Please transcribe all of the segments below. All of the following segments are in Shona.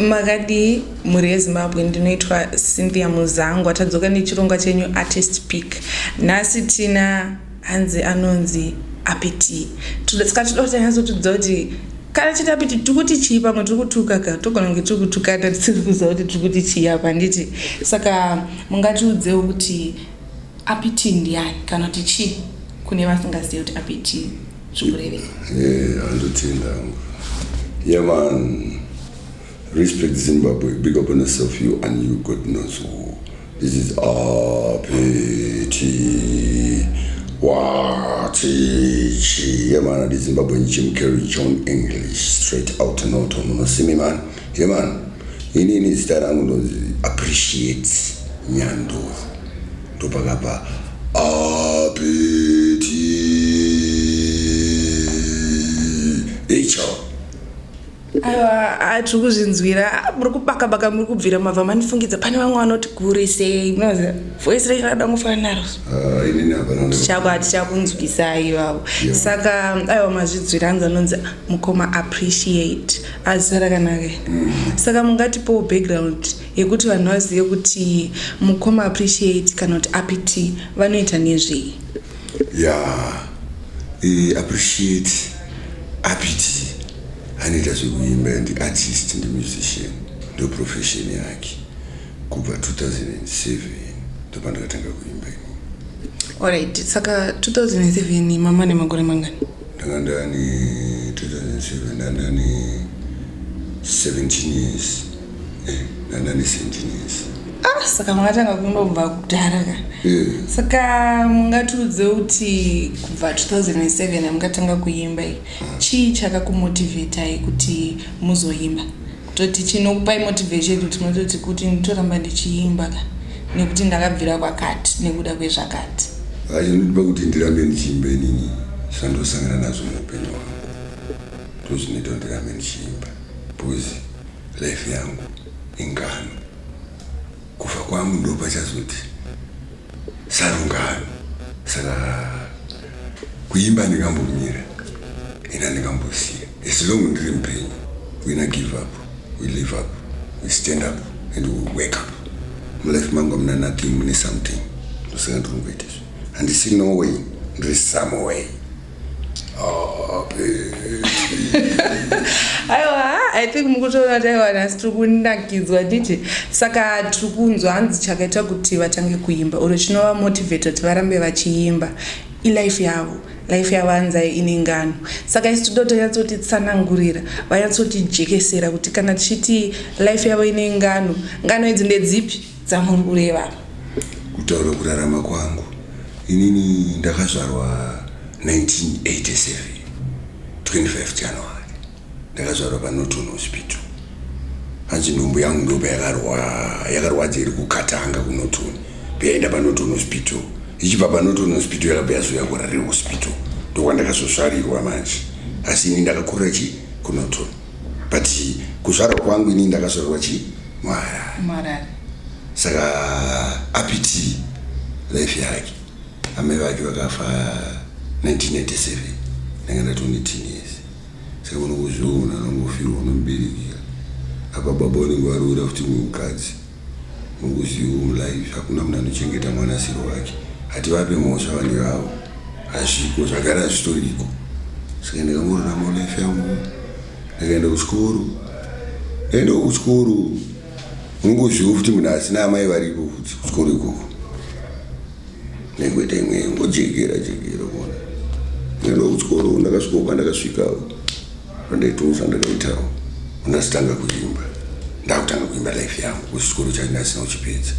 Makadii mhuri yeZimbabwe ndinoitwa Cynthia Muzangwa tadzoka nechirongwa chenyu Artist Pick nhasi tina hanzi anonzi Apiti saka tinoda kuti anyatsotiudza kuti kana chiti Apiti tiri kuti chii pamwe tiri kutuka ka togona kunge tiri kutukana tisiri kuziva kuti tiri kuti chii apa handiti saka mungatiudzewo kuti Apiti ndiani kana kuti chii kune vasingazivi kuti Apiti zvikurevei eh, andotenda hangu yeman respect zimbabwe big up on yourself you and you god knows who this is apeti watichi yeman adi zimbabwe jim carry john english straight out norton unosimi man yeman inini zita rangu ndozi appreciate nyandovu Ndopakabva apeti icho aiwa tiri kuzvinzwira ah, muri kubaka baka muri kubvira mabva manifungidza pane vamwe vanoti guri sei munoziva voisi renyu rada kungofanana naro ah, tichako hatichakunzwisai ivavo saka aiwa mazvinzwira anzi anonzi mukoma appreciate azisara kanaka mm. saka mungatipowo background yekuti vanhu vazive kuti mukoma appreciate kana kuti apt vanoita nezvei ya eh, appreciate apt anoita zvekuimba ndi artist ndi musician ndo profession yake kubva 2007 ndopandakatanga kuimba ini alright saka 2007 mama nemakore mangani ndanga ndani 2007 ndandani 17 years nana nesentinesi ah saka makatanga kunobva kudhara ka eh. saka mungatiudze kuti kubva 2007 amukatanga kuimba i chii chakakumotivetai kuti muzoimba toti chinokupai motivation kuti munototi kuti nditoramba ndichiimba ka nekuti ndakabvira kwakati nekuda kwezvakati aindodiba kuti ndirambe ndichiimba inini zvandosangana nazvo muupenyu hwangu ndozvinoita kuti ndirambe ndichiimba bcause Life yangu ingano. Kufa kwangu ndopachazoti sarungano. Saka kuimba ndingambomira ina ndingambosiya. As long ndiri mupenyu we na give up, we live up, we stand up and we wake up. Mulife mangu amuna nothing mune something. Ndosaka ndiri kungoita izvi. Handisi no way, ndiri some way. aiwa i think mukutoona kuti aiwa nhasi tiri kunakidzwa nditi saka tiri kunzwa hanzi chakaita kuti vatange kuimba oro chinova motivator kuti varambe vachiimba ilife yavo life yavo hanzai ine ngano saka isi tido tonyatsotitsanangurira vanyatsotijekesera kuti kana tichiti life yavo ine ngano ngano idzi ndedzipi dzamuri kureva apa? Kutaura kurarama kwangu inini ndakazvarwa 1987 25 January ndakazvarwa paNorton Hospital hanzi nhumbu yangu ndopa yakarwadza iri kukatanga kuNorton payaenda paNorton Hospital ichibva paNorton Hospital yakabva yazouya kuRare Hospital ndokwandakazosvarirwa manje asi ini ndakakurira chii kuNorton but kuzvarwa kwangu ini ndakazvarwa chi muharare saka apiti life yake amai vake vakafa 1987 ndanga ndatone teenes saka unokuzviona anongofirwa unomuberekera apa baba unenge waroora futi mumukadzi Mukuziva umu life hakuna munhu anochengeta mwana asiri wake. Hativape mhosva vana ivavo. Hazviko zvagara hazvitoriko. Saka ndakamborarama life yangu. Ndakaenda kuchikoro. Ndaenda kuchikoro. Unongoziva futi munhu asina amai varipo futi kuchikoro ikoko. Ndaingoita imwe ngojekera jekera kuona. Ndaenda kuchikoro ndakasvikopa ndakasvika. Ndoitounza ndakaitawo unasitanga kuimba ndakutanga kuimba life yangu kuchikoro chaina asina kuchipedza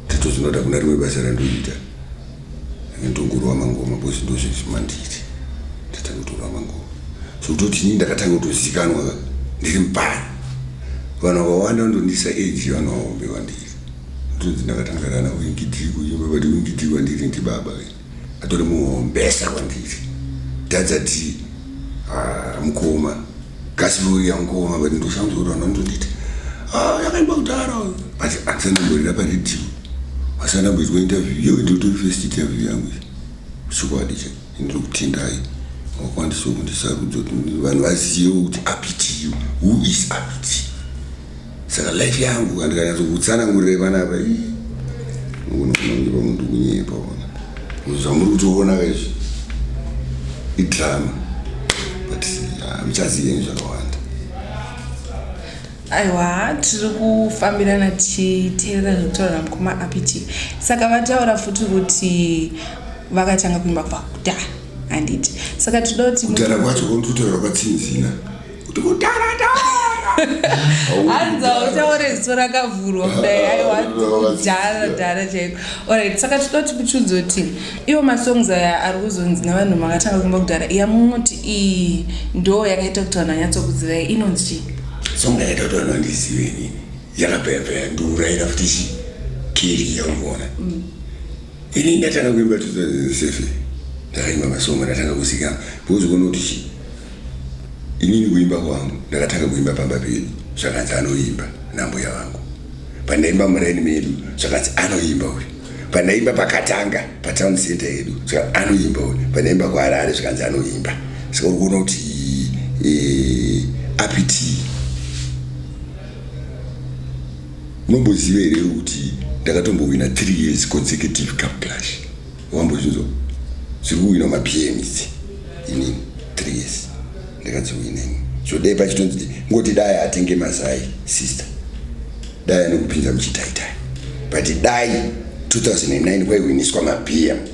tatozinoda kuna rimwe basa randoita ndongorova mangoma bcause ndozvezvimanditi ndatanga kutorova mangoma so kutoti inini ndakatanga kutozikanwa ndiri mupani vanhu vakawanda vandondisa age vanhu vahombe vandiri ndonzi ndakatangarana wingidii kuimba vati wingidii wandiri ndibaba atori muhombesa kwandiri tadzati ah, mukoma kasirori yamukoma but ndoshanzorana ndonditi ah, yakaimba kudhara but andisanamborira paredhiyo asanamboitwa interview iyo ndotori first interview yangu chokwadi cha ndiri kutendai wakwandisawo kundisarudza kuti vanhu vazivewo kuti apitiyo who is apiti saka life yangu kandikanyatsokutsanangurire panapa unokunongiva munhu kunyepa ona zvamuri kutoona kaizvi idrama but ah, muchaziyeni zvakawanda aiwa tiri kufambirana tichiteerera zvekutaura namukoma apiti saka vataura futi kuti vakatanga kuimba kubva kudhara handiti saka tinoda kuti kudhara kwacho kondikutaura kwatsinzina kuti kutaratara hanza utaure ziso rakavhurwa kudai aiwadharadhara ah, chaiko orit saka tinoda kuti muchunzo kuti iwo masongs aya ari kuzonzi nevanhu makatanga kuimba kudhara iya munoti iyi ndoo yakaita kuti vanhu vanyatsokuzivai inonzi chii song yakaita kuti vanhu vandizive nini yakapeyapeyanduraira futi chii kiri yaungoona mm. Ini ndatanga kuimba 2007 ndakaimba masongo ndatanga kuzikanwa because kuona kuti chii inini kuimba kwangu ndakatanga kuimba pamba pedu zvakanzi anoimba nambuya vangu pandaimba muraini medu zvakanzi anoimba uyu pandaimba pakatanga patown center yedu saka anoimba uyu pandaimba kuharare zvakanzi anoimba saka uri kuona kuti eh, apiti Unomboziva here kuti ndakatombowina 3 years consecutive cup clash wambozvinzwa zviri kuwina mabm idzi inini 3 years ndakadziwina ini zvodei pachitonzi ngoti dai atenge mazai sister dai anokupinza muchitaitai but dai 2009 kwaiwiniswa mabm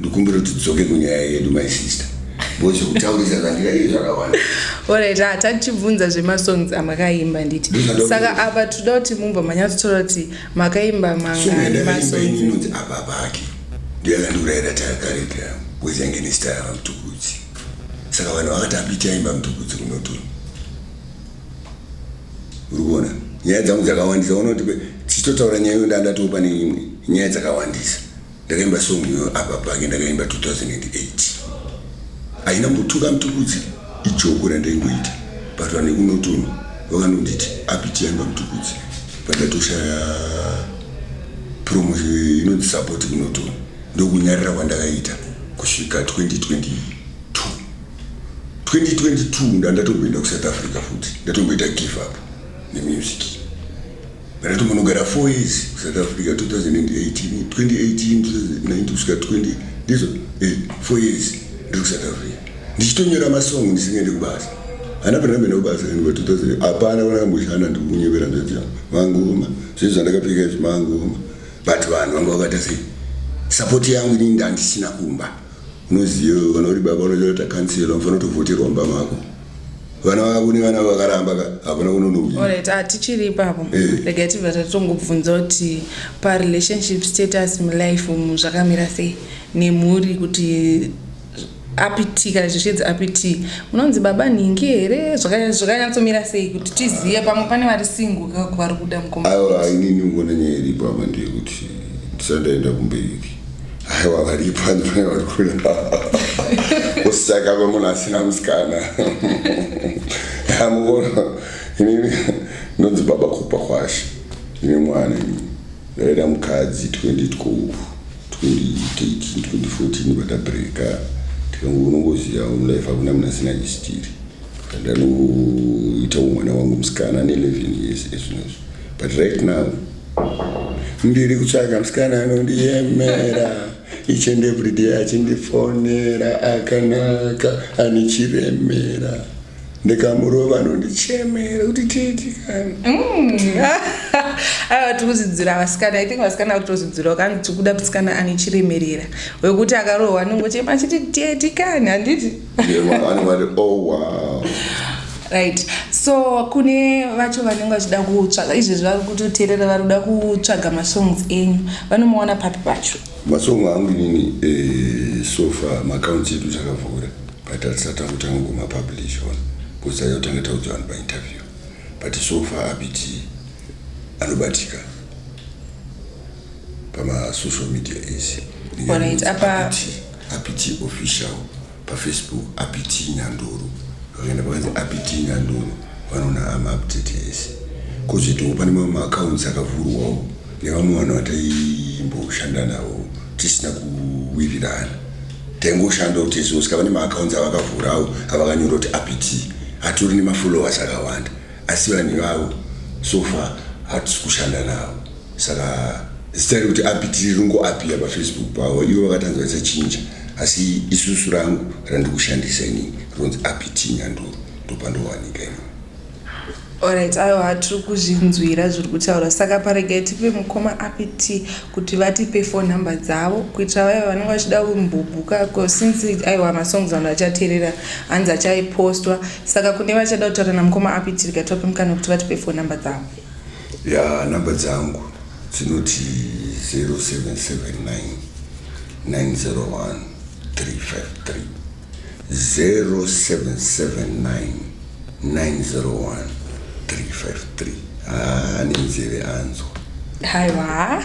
ndikumbira kuti tidzoke kunyaya yedu my sister because kutaurisa zvandira ii zvakawanda orit ah, tatichibvunza zvemasongs amakaimba nditi saka apa toda kuti mumva manyatsotora kuti makaimba mangainonzi apa pake ndiyakandiurayira takarepi yangu because yange nesitaya vamutukudzi saka vanhu vakati apichaimba mutukudzi kunotoni uri kuona nyaya dzangu dzakawandisa unotipe tichitotaura nyaya iyo ndandatoo pane imwe nyaya dzakawandisa Ndakaimba song iyoyo apa pake ndakaimba 2008 haina mbotuka mutukudzi ijoko randaingoita but vanhu vekunotono vakanonditi apitiyaimba mutukudzi pandatoshaya promotion inonzi support kunotono ndokunyarira kwandakaita kusvika 2022 2022 ndandatomboenda kusouth africa futi ndatomboita give up nemusic Kana timbonogara 4 years kuSouth Africa 2018, 2018, 2019 kusvika 20 ndizo eh, 4 years ndiri kuSouth Africa ndichitonyora masong ndisingaende kubasa hana pena mene kubasa rinova 2000 hapana kana kamboshanda ndikunyebera nzodzi yangu mangoma zvinhu zvandakapfeka izvi mangoma but vanhu vanga vakaita sei sapoti yangu inini ndandisina kumba unoziva kana uri baba unozoita kansela unofanira kutovhoterwa mumba mako vana vako nevana vakaramba ka hakuna kunonouya Alright, ah, tichiri ipapo Eh. regai tibva tatongobvunza kuti parelationship status mulife umu zvakamira sei nemhuri kuti apt kana zvishedzi apt munonzi baba nhingi here Zvaka- zvakanyatsomira sei kuti tizive pamwe pane vari singo vari kuda mukoma aiwa inini ngona nyaya iripo ama ndeyekuti ndisandaenda kumberi aiwa varipo andifana vari kuda kusaka kwemunhu asina musikana amuona inini ndonzi baba kupa kwashe ine mwana ini ndaida mukadzi 2012 2013 2014 vatabreka tikangu unongoziva mulife akuna mna sina chistiri ndanoita umwana wangu musikana ne 11 years ezvinozvo but right now ndiri kutsvaga musikana anondiyemera each and every day achindifonera akanaka ane chiremera ndikamurova anondichemera kuti titi kani mm. aiwa tiri kuzidzira vasikana i think vasikana vari kutozidzirawo kani tiri kuda musikana ane chiremerera wekuti akarohwa anongochema achiti teti kani handiti Oh, right so kune vacho vanenge vachida kutsvaga izvezvi vari kutoteerera vari kuda kutsvaga masongs enyu vanomaona papi pacho masong angu inini eh, sofa maakaunti edu takavhura but hatisati akutanga kumapublish one bcause ayotanga taudzwa vanhu painterview but sofa abiti anobatika pamasocial media ese Alright, apa- apiti official pafacebook apiti nyandoro vakaenda pakanzi apiti nyandoro vanoona amaupdate ese kozoitawo pane mamwe maaccounts akavhurwawo nevamwe vanhu vataimboshanda navo tisina kuwirirana taingoshandawo tese usikava nemaaccounts avakavhurawo avakanyora kuti apiti atori nemafollowers akawanda Asi vanhu ivavo so far hatisi kushanda navo saka zita rekuti api tiri ringoapiya pafacebook pavo ivo vakatanzwa risachinja asi isusu rangu randiri kushandisa ini rinonzi api t nyanduro ndopandowanika ini Alright, ayo hatiri kuzvinzwira zviri kutaura saka paregai tipe mukoma api t kuti vatipe phone number dzavo kuitira vaya vanenge vachida kumbobhuka bcause since aiwa masongs vanhu vachateerera hanzi achaipostwa saka kune vachada kutaura namukoma apitirika tope mukana kuti vatipe phone number dzavo ya number dzangu dzinoti 0779 901 353 0779901353 haa ane nzeve anzwa haiwa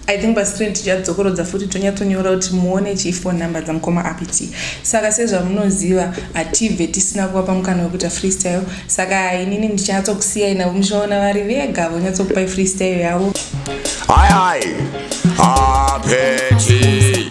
i think pascreen tichadzokorodza futi tonyatsonyora kuti muone chiphone number dzamukoma apt saka sezvamunoziva hatibve tisina kuvapa mukana wekuita freestyle saka inini ndichanyatsokusiyai navo muchaona vari vega vonyatsokupai freestyle yavo hai hai apeti